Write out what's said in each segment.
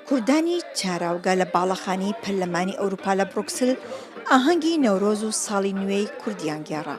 کوردانی چاراوگە لە باڵەخانەی پەرلەمانی ئەوروپا لە بڕوکسل ئاهەنگی نەورۆز و ساڵی نوێی کوردیان گێڕا.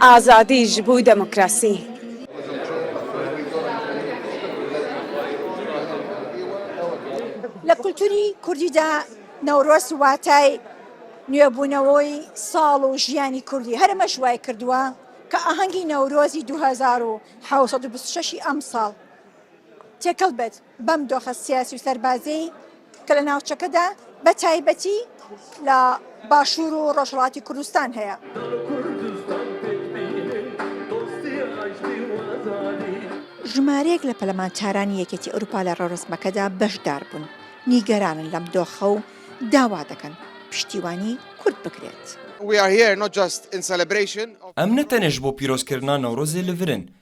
ئازادی ژ بو دموکراسی. لە کولتوری کوردیدا نەورۆز واتای نوێبوونەوەی ساڵ و ژیانی کوردی هەر ئەمەش وای کردووە کە ئاهەنگی نەورۆزی دوو هەزار و حەوت سەد و بیست و شەش ی ئەمساڵ تێکەڵ بێت بەم دۆخە سیاسی و سەربازیەی کە لە ناوچەکەدا بە تایبەتی لە باشوور و ڕۆژهەڵاتی کوردستان هەیە. ژمارەیەک لە پەلەمانتارانی یەکێتی ئەوروپا لە ڕەورەسمەکەدا بەشداربوون، نیگەرانن لەم دۆخە و داوا دەکەن پشتیوانی کورد بکرێت. ئەم نەتەنێش بۆ پیرۆزکردنا نەورۆزێ لڤرن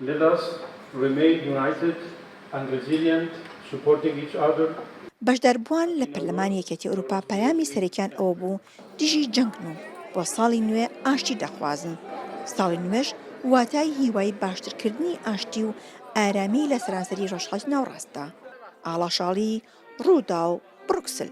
Let us remain united and resilient, supporting each other. بەشداربووان لە پەرلەمانی یەکێتی ئەوروپا پەیامی سەرەکیان ئەوە بوو دژی جەنگن و بۆ ساڵی نوێ ئاشتی دەخوازن، ساڵی نوێش واتای هیوای باشترکردنی ئاشتی و ئارامی لە سەرانسەری ڕۆژهەڵاتی ناوەڕاستدا. ئاڵاشاڵی، ڕووداو، بڕوکسل.